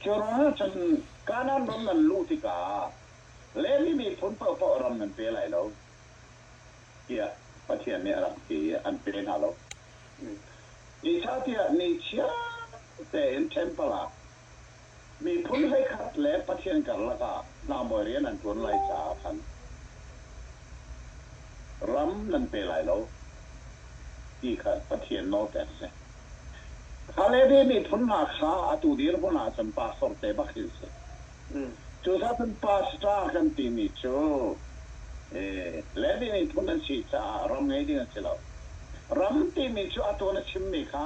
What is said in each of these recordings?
Cun Kanaan ram nan luh tikah Levi miphun paohpaoh ram nan pe lai lo, tiah Pathian nih a rak ti i an pe hna lo. Zeicahtiah ni chia tein ṭhempal ah Miphun hleikhat le Pathian karlak ah hnahmuai rian an ṭuan lai caah khan ram nan pe lai lo, ti kha Pathian nawlpek a si. Khaledi miphun hna kha atu dirhmun ah cun pastor te bak hi a si. Cucaah cun pastor kan timi cu Levi miphun an si caah ram ngei ding a si lo. Ram timi cu atu na chimmi kha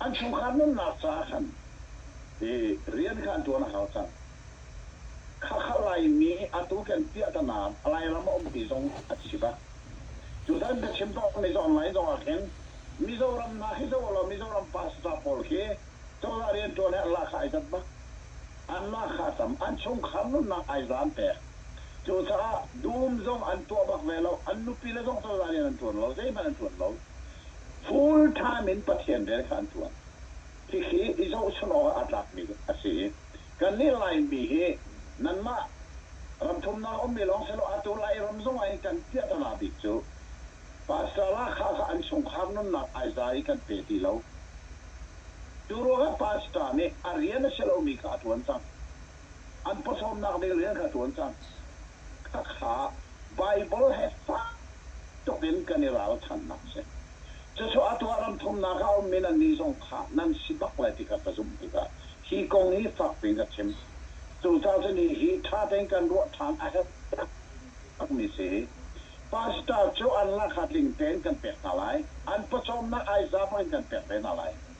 an chungkhar nunnak caah khan hi rian kha an ṭuan a hau cang. Khakha Laimi atu kan piah ta nain Lairam a ummi zong a thi bak. Tutan biachim tuahmi online zong ah khin Mizoram hna hi zoh law Mizoram pastor pawl khi cozah rianṭuan he an lak kha ai danh bak. An lak kha a tam. An chungkhar nunnak ai zan pek. Cucaah dum zong an tuah bak ve lo. An nupile zong cozah rian an ṭuan lo. Zeihmanh an ṭuan lo. full time in Pathian rian kha an ṭuan. Hihi i zohchunh awkah a tlakmi a si i kannih Laimi hi nanmah ramthumnak a ummi lawng sehlaw atu Lai ram zong ah hin kan piahtana bik cu Pastor Lahkhah kha an chungkhar nunnak aiza i kan pe ti lo. Cu ruangah Pastor nih a rian a si lomi kha a ṭuan cang. an pawcawmnak ding rian kha ṭuan cang. Khakha Baibal he fak tuk in kan i ralchanhnak a si. Cucu atu ah ram thumnak ah a ummi nannih zong tha nan si bak lai ti kha ka zumh tikah hi kong hi fak piin ka chim. Cucaah cun hihi ṭha tein kan ruah ṭhan a herh takmi si. Pastor cu an lakha tling tein kan pek hna lai. An pawcawmnak ai za bak in kan pek ve hna lai.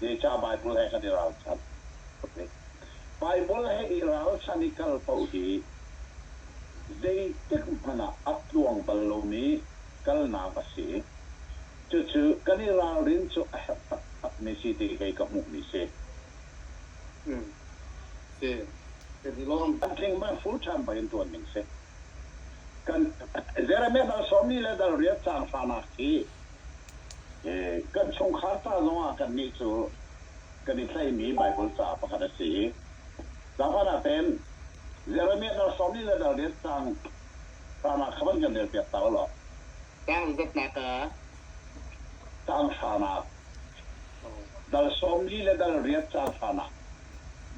Zeicah Baibal he kan i ralchanh? Baibal he i ralchanh i kal paoh hi zeitik hmanh ah a tluang bal lomi kalnak a si. Cucu kan i ralrin cu a herh taktakmi si ti kei ka hmuhmi si. Tling merful ṭhan pei in ṭuan ding si. Jeremiah dal sawmmi le dal riat caan hranak hi Kan chungkhar ca zongah kannih cu kan i tlaihmi Baibal ca pakhat a si i zapan ah tein Jeremiah dar hrawng nih le dar nih caang caan ah khan an kan relpiak hna ulaw caang zatnak ah caang hranak dal sawmli le dal riat caan hranak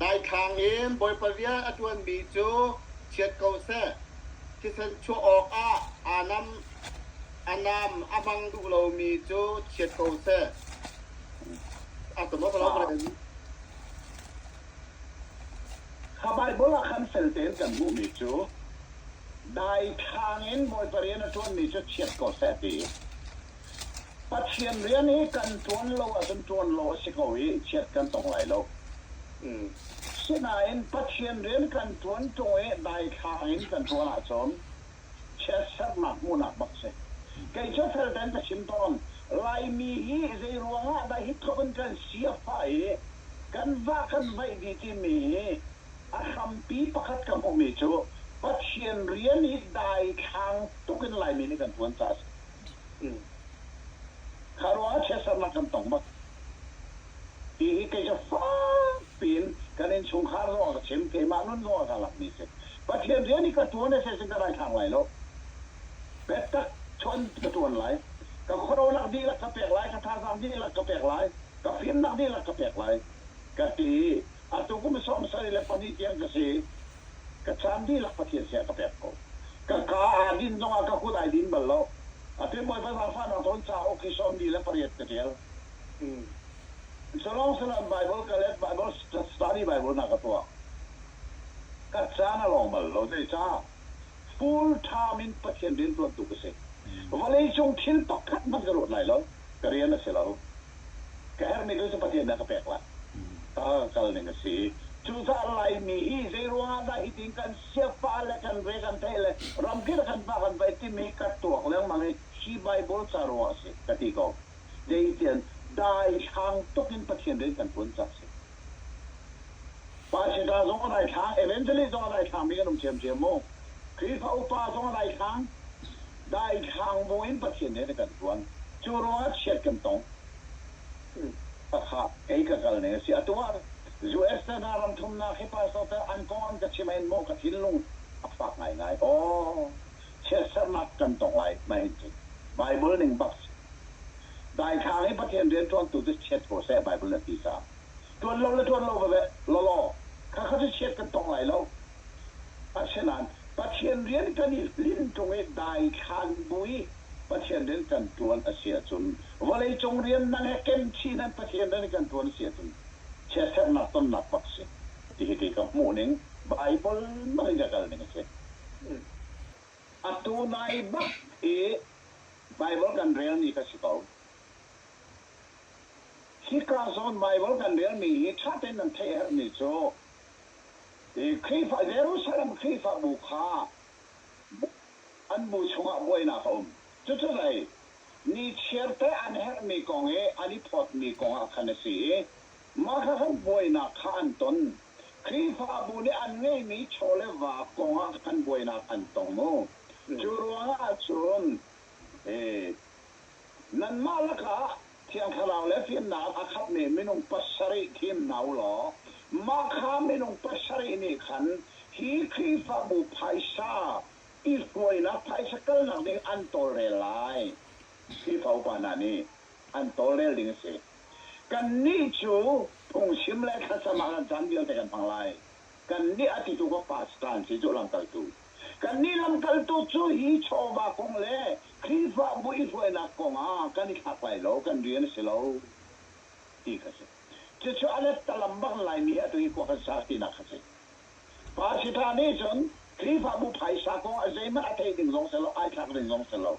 daithlang in Bawipa bia a ṭuanmi cu chiat ko seh thisen chuah awkah aa nam. A nam a mang duh lomi cu chiat ko seh. A tumok lo ren. Kha Baibal ah khan fel tein kan hmuhmi cu daithlang in Bawipa rian a ṭuanmi cu chiat ko seh ti. Pathian rian hi kan ṭuan lo ahcun ṭuan lo a si ko i chiat kan tong lai lo. Sinain Pathian rian kan ṭuan ṭung i daithlang in kan ṭuan ahcun Chiatserhnak hmuhnak bak si. Kei cu fel tein ka chim tawn. Laimi hi zeiruang ah dah hi tluk in kan si a fah i kan vah kan vaih dih timi hi a hrampi pakhat ka hmuhmi cu Pathian rian hi daithlang tuk in Laimi nih kan tuan caah a si. Kha ruangah chiatserhnak kan tong bak. Hi hi kei cu fakpi in kan innchungkhar zong a ka chim, keimah nun zong a ka langmi si. Pathian rian hi ka ṭuan a si sin ka daithlang lai lo. Biatak chuan ka ṭuan lai. Ka khuarolak dihlak ka pek lai, ka thazaang dihlak ka pek lai, ka fimnak dihlak ka pek lai, ka ti i atu kum i sawm sari le pahnih tiang ka si i ka caan dihlak Pathian sinah ka pek ko. Ka kaa aa din zongah ka kut ai din bal lo. A pe bawipa zaangfahnak tawn caah awki sawm li le pariat ka ṭial. So lawng si loin Baibal ka let, Baibal study Baibal na ka tuah. Ka caan a lawng bal lo. Zeicah? Full time in Pathian rianṭuan tu ka si. Vawleicung thil pakhat hmanh ka ruat lai lo. Ka rian a si lo. Ka herhmi thil cu Pathian nih a ka pek lai. A ka kal ning a si. Cucaah Laimi hi zeiruangah dah hitin kan siapaah le kan ve kan theih le ramkip le kan pa kan vaih timi ka tuak lengmang i hi Baibal ca ruangah a si ka ti ko. Kei tian daithlang tuk in Pathian rian kan tuan cang a si. Paisa zong a daithlang, evangelist zong a daithlang mi kan um ṭhiamṭhiam mu. Khrihfa upa zong a daithlang. Daithlang bu in Pathian rian a kan ṭuan. Cu ruangah chiat kan tong. Takha kei ka kal ning a si. Atu ah US le hna ram thumnak hi Pastor te an kong an ka chim ah hin maw ka thinlung a fak ngaingai. Aw! chiatserhnak kan tong lai mah hin cu Baibal ning bak si. Daithlang i Pathian rianṭuantu cu chiat ko seh Baibal na ti caah ṭuan lo le ṭuan lo veve lawlaw khakha cu chiat kan tong lai lo. Asinain Pathian rian kan i hlinh ṭung i daithlan bu i Pathian rian kan ṭuan a si ahcun vawleicung rian nang he ken chin in Pathian rian i kan ṭuan a si ahcun chiatserhnak tonnak bak si. Hihi ka hmuhning Baibal nang i ka kalning a si. Atu nai bak i Baibal kan relmi ka si ko. Hika zawn Baibal kan relmi hi ṭha tein nan theih a herhmi cu Khrihfa Jerusalem Khrihfabu kha an bu chungah buainak a um. Cucu lei ni chiarte an herhmi kong i an i phawtmi kongah khan a si i mah kha khan buainak kha an ton. Khrihfabu nih an ngeihmi chaw le va kong ah kan buainak an tong maw? Cu ruang ahcun nanmah lakah Thiang Thlarau le fimnak a khapmi minung pasarih thim hna u law mah kha minung pasarih nih khan hi Khrihfabu phaisa i hruainak, phaisa kalnak ding an tawlrel lai. Khrihfa upa hna nih an tawlrel ding a si. Kannih cu phungchim le thlacam ah kan caan vialte kan hmang lai. Kannih a titu ka pastor an si cu lamkaltu. Kannih lamkaltu cu hi chawva kong le Khrihfabu i hruainak kong ah kan i thlak lai lo, kan rian a si lo ti kha a si. Cucu a lettalam bak in Laimi hi atu i khua kan sa tinak kha a si. Pastor nih cun Khrihfabu phaisa kong ah zeihmanh a theih ding zong a si lo, ai thlak ding zong a si lo.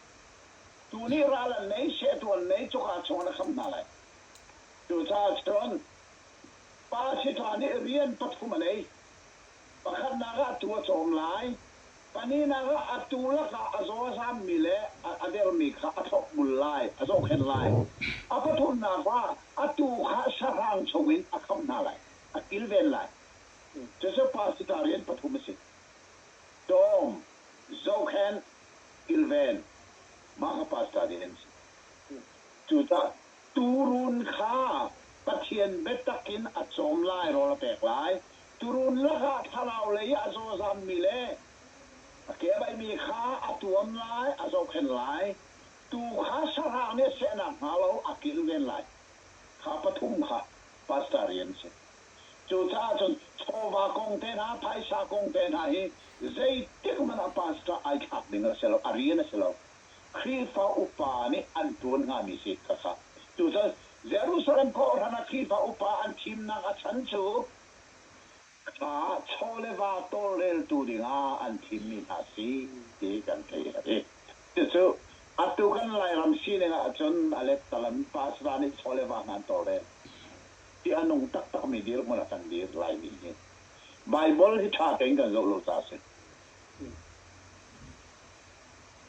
Tu nih ral an nei, sehtuah an nei, cuka chung an hram hna lai. Cucaah cun pa sifah nih rian pathum a ngei. Pakhatnak ah tuu a cawm lai, pahnihnak ah a tuu lakah a zawazammi le a dermi kha a thlopbul lai, a zohkhenh lai. A pathumnak ah a tuu kha sahrang chungin a khamh hna lai, a kilven lai. Cucu pa sifah rian pathum a si. Dawm, zohkhenh, kilven, mah kha pastor din an si. Cucaah tuurun kha Pathian biatak in a cawm lai, rawl a pek lai. Tuurun lakah thlarau lei i a zawzammi le a kebaimi kha a tuam lai, a zohkhenh lai. Tuu kha sahrang nih a seh nakhnga lo a kilven lai. Kha pathum kha pastor rian a si. Cucaah cun chawva kong te hna, phaisa kong te hna hi zeitikhmanh ah pastor ai thlak ding a si lo, a rian a si lo. Khrihfa upa nih an ṭuan hngami si ka sa. Cucun Jerusalem kawhhran ah Khrihfa upa an thimnak a chan cu thla chaw le va tawlreltu dingah an thimmi hna si ti kan theih a ti. Cucu atu kan Lairam sining ahcun a lettalam pastor nih chaw le va hna an tawlrel. i a nung taktakmi dirhmun ah kan dir. Laimi nih Baibal hi ṭha tein kan zoh lo caah a si.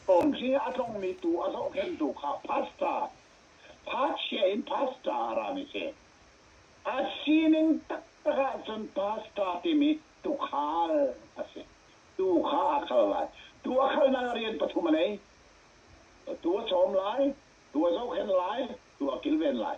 Tawn hi a tlongmi tuu a zohkhenhtu kha pastor, pachia in pastor a rami a si. A sining taktak ahcun pastor timi tuukhal a si. Tuu kha a khal lai. Tuu a khalnak ah rian pathum a nei. Tuu a chawm lai, tuu a zohkhenh lai, tuu a kilven lai.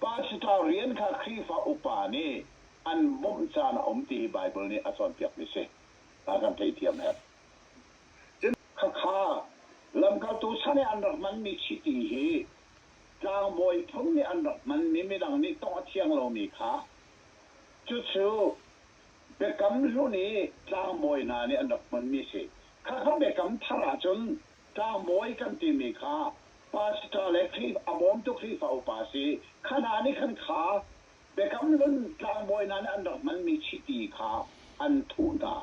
Pastor rian kha Khrihfa upa nih an bawmh caan a um ti hi Baibal nih a cawnpiakmi si. A kan theithiam hem. Cun khakha lamkaltu chan i an rak hmanmi chiti hi tlangbawi phun nih an rak hmanmi midang nih tawngh a thiang lomi kha cucu Biakam Hlun i tlangbawi hna nih an rak hmunmi a si. Khakha Biakam Thar ahcun Tlangbawi kan timi kha pastor le Khrihfa, a bawmtu Khrihfa upa a si. Kha hna nih khan kha Biakam Hlun tlangbawi hna nih an rak hmanmi chiti kha an thuh hna.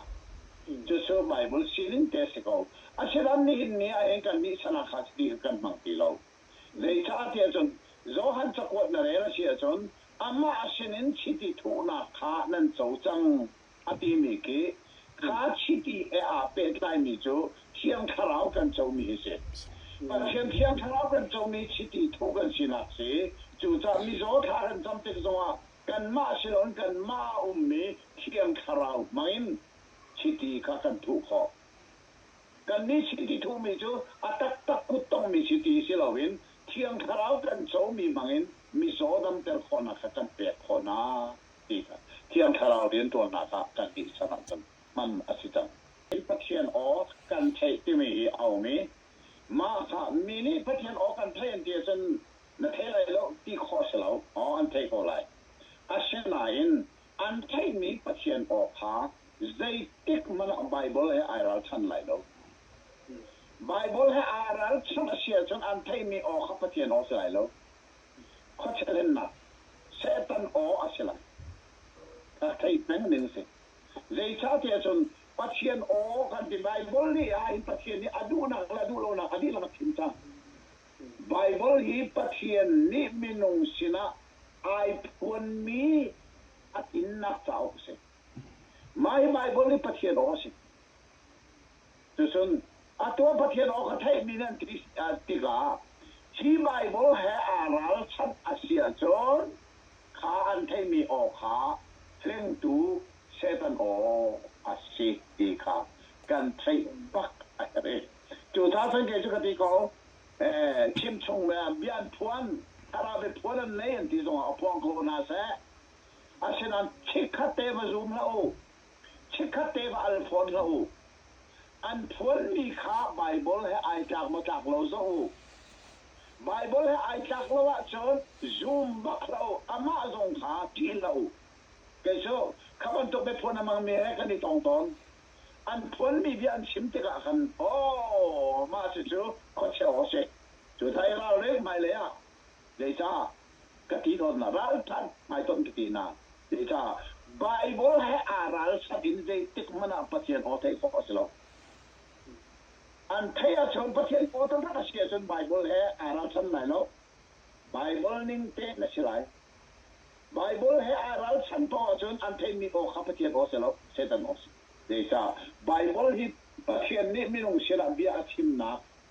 Cucu Baibal sining te a si ko. Asinain nihin ni ah hin kannih sanak kha chiti kha kan hmang ti lo. Zeicah tiah cun Johan cakuat na rel a si ahcun amah sinin chiti thuhnak kha nan co cang. a timi khi kha chiti he aa pehtlaimi cu Thiang Thlarau kan comi hi si. Pathian Thiang Thlarau kan comi chiti thuh kan sinak si. Cucaah mizaw thla kan cam tik zongah kanmah si loin kanmah a ummi Thiang Thlarau hmangin chiti kha kan thuh khawh. Kannih chiti thuhmi cu a taktak kuttongmi chiti si loin Thiang Thlarau kan comi hmangin mizaw damter khawhnak kha kan pek khawh hna. ti hna. Thiang Thlarau rianṭuannak ah kannih sinah cun hman a si cang. Pathian aw kan theih timi hi a um i mah kha mi nih Pathian aw kan theih an ti ahcun na thei lai lo ti khawh a si lo, aw an theih ko lai. Asinain an theihmi Pathian aw kha zeitik hmanh ah Baibal he ai ralchanh lai lo. Baibal he aa ralchanh a si ahcun an theihmi aw kha Pathian aw a si lai lo. Khuachehlennak Satan aw a si lo. A thei peng ning si. Zeicahtiah cun Pathian aw kan ti. Baibal nih ahhin Pathian nih a duhnak le a duh lonak a dihlak a thim cang. Baibal hi Pathian nih minung sinah ai phuanmi a tlinnak cauk a si. Mah hi Baibal hi Pathian aw a si. Cucun atu ah Pathian aw kha theihmi nan ti tikah hi Baibal he aa ralchanh a si ahcun kha an theihmi aw kha hlengtu Satan aw a si ti kha kan theih bak a herh i cu ca sangke cu ka ti ko chimchung le bianphuan thlarau i phuan an nei an ti zongah a phuang kho hna seh asinain chikkhat te va zum hlah u Chikkhat te va al fawn hlah u. An phuanmi kha Baibal he ai tlak maw tlak lo zoh u. Baibal he ai tlak lo ahcun zum bak hlah u, amah zong kha ṭih hlah u. Kei cu kha bantuk biaphuan a hmangmi he kan i tong tawn. An phuanmi bia an chim tikah khan, Aw, mah cucu khuachia aw a si. Cucaah i ralring, hmailei ah Zeicah? Ka ti tawnnak ralṭhat hmaitonh ka ti nain zeicah? Baibal he aa ralchanh in zeitik hmanh ah Pathian aw theih khawh a si lo. An theih ahcun Pathian aw taktak a si ahcun Baibal he aa ralchanh lai lo. Baibal ning tein a si lai. Baibal he aa ralchanh paoh ahcun an theihmi aw kha Pathian aw si lo, Satan aw si. Zeicah? Baibal hi Pathian nih minung sinah bia a chimnak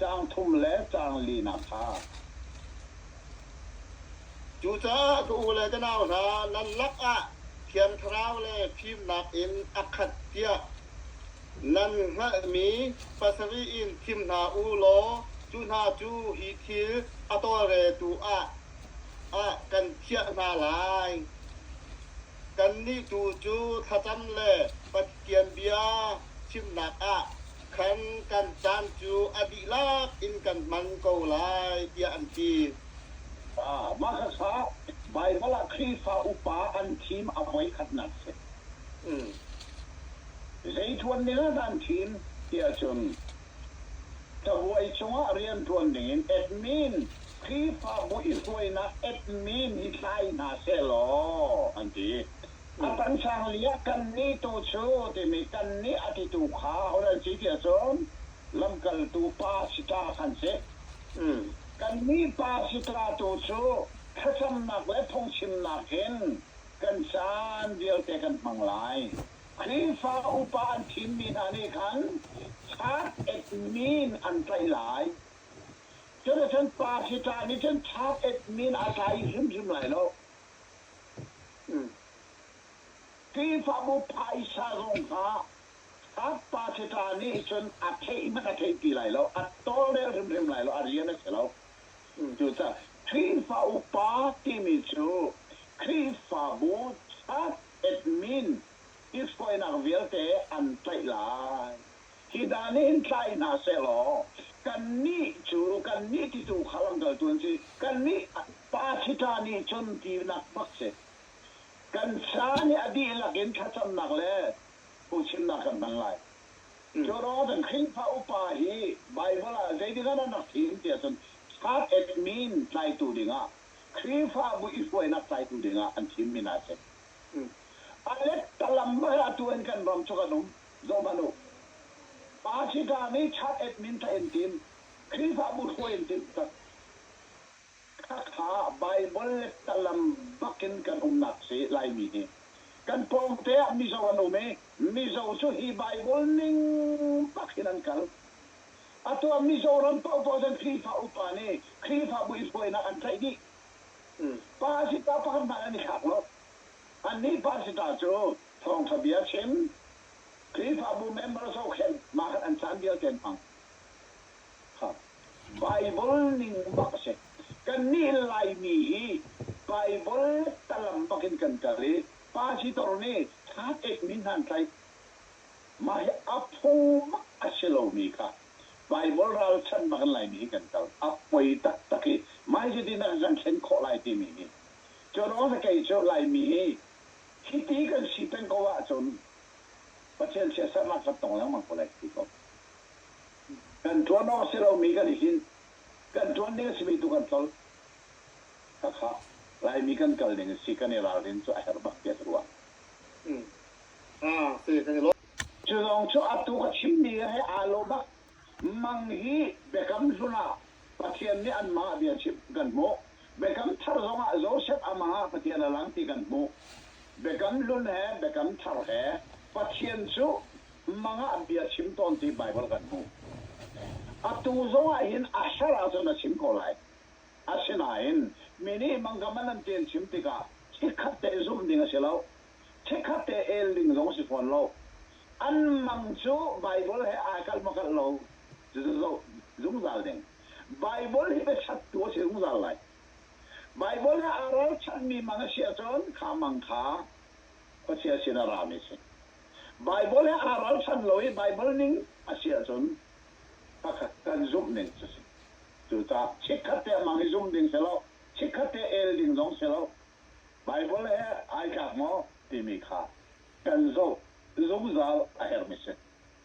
caang thum le caang lina kha. Cucaah ka u le ka nau hna, nan lakah Thian Thlarau le fimnak in a khat tiah nan hngalhmi pasarih in thim hna u law cu hna cu hi thil a tawlreltu ah ah kan thiah hna lai. Kannih tu cu thlacam le Pathian bia chimnak ah Kham kan caan cu a dihlak in kan hman ko lai tiah an ti. Mah hmasa Baibal ah Khrihfa upa an thim a voikhatnak a si. Zei ṭuan ding ah dah an thim tiah cun cabuai cungah rian ṭuan dingin admin, Khrihfabu i hruainak admin, hi thlai hna sehlaw an ti. A pangsang li ah kannih tu cu timi kannih a titu kha a hun al chih ti ahcun lamkaltu pa sitra khan si. Kannih pa sitra tu cu thlacamnak le phungchimnak in kan caan vialte kan hmang lai. Khrihfa upa an thimmi hna nih khan thak etmi in an tlaih lai. Cuticun pa sitra nih cun thak etmi in a tlai hrimhrim lai lo. Khrihfabu phaisa zong kha a pasita nih cun a theih hmanh a theih ti lai lo, a tawlrel hrimhrim lai lo, a rian a si lo. Cucaah Khrihfa upa timi cu Khrihfabu church admin i hruainak vialte an tlaih lai. Hi hna nih hin tlai hna sehlaw kannih cu kannih titu kha lamkaltu an si, kannih Pasita nih cun tinak bak si. Kan sa nih a dihlak in thlacamnak le phungchimnak kan hmang lai. Jonathan Khrihfa upa hi Baibal ah zeitik ah dah na thim ti ahcun Heart at Min tlaitu dingah, Khrihfabu i hruainak tlaitu dingah an thimmi hna a si. Alet Talambar ah atu in kan ram cu kan um. Zoh hmanh u. Pasita nih Heart at Min tha in tim, Khrihfabu hruai in timh tak. Baibal le tlang bak in kan umnak si Laimi hi kan pawngte ah Mizo an um i Mizo cu hi Baibal ning bak in an kal. Atu ah Mizoram paohpaoh cu an Khrihfa upa nih Khrihfabu i buainak an tlaih dih. Pasita pakhat hmanh an i thlak lo. Annih pasita cu thawngṭha bia chim, Khrihfabu member zohkhenh, mah khan an caan vialte an hmang. Baibal ning bak si. Kannih Laimi hi Baibal tlalam bak in kan kal i Pasitor nih thla ekmi hmantlaih, mah hi a phung a si lomi kha Baibal ralchanh bak in Laimi hi kan kal. A poi taktak i hmaizitin ah kan thlen khawh lai timi hi. Cu ruang hi kei cu Laimi hi hiti kan si peng ko ahcun Pathian siasaknak kan tong lengmang ko lai ka ti ko. kan tuan awk si lomi kan i hlinh. Kan tuan ding a simi tu kan tlolh. Hakha Laimi kan kal ning si kan i ralrin cu a herh bak tiah ka ruah. Cu zong cu atu ka chimmi he aa lo bak. Mang hi Biakam hlun ah Pathian nih anmah bia chim kan hmuh. Biakam Thar zongah Josef a mang ah Pathian a lang ti kan hmuh. Biakam Hlun he Biakam Thar he Pathian cu mang ah bia chim tawn ti Baibal kan hmuh. Atu zongah hin a ser ahcun a chim ko lai. Asinain mi nih mangkama nan ṭen chim tikah chikkhat te zumh ding a si lo. Chikkhat te el ding zong a si fawn lo. An mang cu Baibal he aa kalh makalh lo zungzal ding. Baibal hi biachattu a si zungzal lai. Baibal he aa ralchanhmi mang a si ahcun kha mang kha Pathian sin a rami a si. Baibal he aa ralchan lo i Baibal ning a si ahcun pakhat kan zumh ning a si. Cucaah chikkhat te ah mang i zumh ding si lo, chikkhat te el ding zong si lo, Baibal he ai tlak maw timi kha kan zoh zungzal a herhmi a si.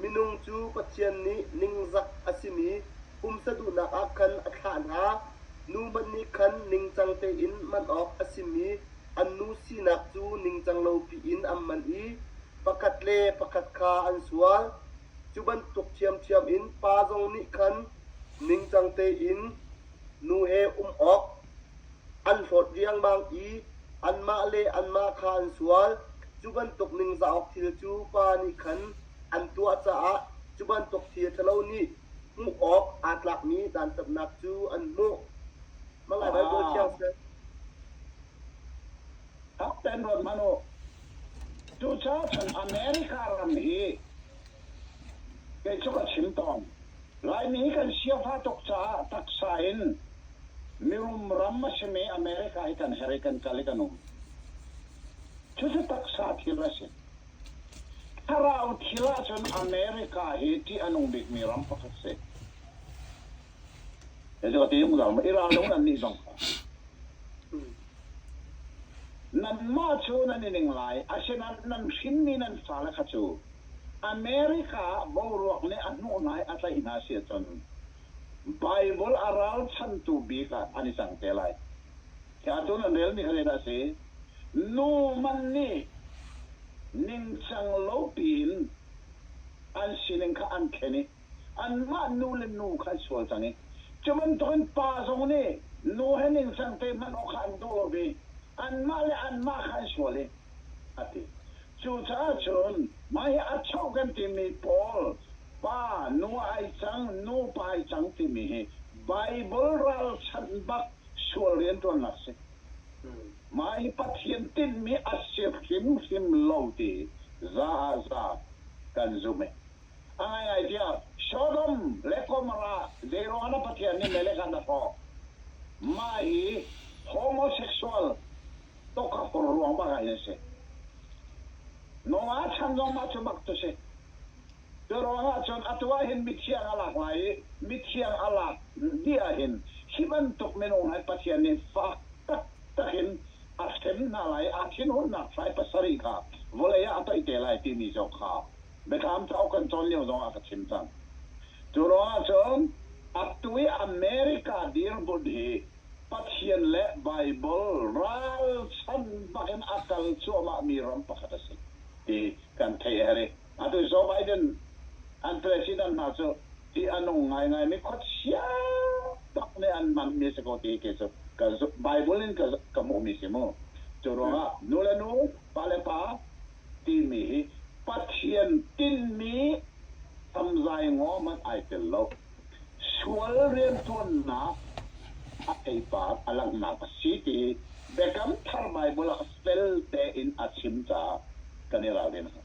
Minung cu Pathian nih ningzak a simi pumsa duhnak ah khan a thlah hna. Nu hmanh nih khan ningcang tein man awk a simi an nu sinak cu ningcang lopi in an man i pakhat le pakhat kha an sual. Cu bantuk ṭhiamṭhiam in pa zong nih khan ningcang tein nu he um awk, An hlawt riangmang i anmah le anmah kha an sual. Cu bantuk ningzah awk thil cu pa nih khan an tuah caah cu bantuk thil ṭhalo nih hmuh awk aa tlakmi dantatnak cu an hmuh. Mangah Baibal thiang seh. Rak pen ruat hmanh u. Tuchan America ram hi Kei cu ka chim tawn, Laimi kan siafa tuk caah taksa in mirum ram a simi America hi kan her i kan kal i kan um. Cucu taksa thil a si. Thlarau thil ahcun America hi ṭih a nung bikmi ram pakhat a si. Zeicaah ti in ka zalm? Iran zong annih zong kha. Nanmah cu nan i ning lai, asinain nan hrinmi nan fale kha cu America ah boruak nih a hnuh hna i a tlaih hna a si ahcun Baibal a ralchanhtu bik ah an i cang te lai. Hi ah cun an relmi kha zeidah a si? Nu man nih ningcang lo piin an sining kha an thlen i anmah nu le nu kha an sual cang i cu bantukin pa zong nih nu he ningcang te hman awk kha an daw ve, anmah le anmah kha an sual i a ti. Cucaah cun mah hi a chauh kan timi pawl pa nu ai cang, nupa ai cang timi hi Baibal ralchanh bak sual rianṭuannak a si. Mah hi Pathian tinhmi a si hrimhrim lo ti za ah za kan zumh i a ngaingai tiah Sodom le Gomorrah zeiruangah na Pathian nih melek ah na hrawh? Mah hi homosexual tokakor ruangmah ah hin a si. Noah chan zongmah cu mak cu si. Cu ruangah cun atu ah hin mithiang a lak lai i mithiang a lak dih ah hin hi bantuk minung hi Pathian nih fak taktak in a hrem hna lai i a thinhunnak hrai pasarih kha vawlei ah a toih te lai timi zong kha Biathlam cauk kan cawn lio zong ah ka chim cang. Cu ruangah cun atu i America dirhmun hi Pathian le Baibal ralchanh bak in a kal cuahmahmi ram pakhat a si ti kan theih a herh i atu Joe Biden an president hna cu tih a nung ngaingaimi khuachia bak nih an hmanmi a si ko ti cu ka Bible in ka hmuhmi si mu. Cu ruangah nu le nu, pa le pa timi hi Pathian tinhmi tamzai ngaw hmanh ai tel lo. Sual riantuannak a theipar a langhnak a si ti Biakam Thar Baibal ah fel tein a chim caah kan i ralrin a hau.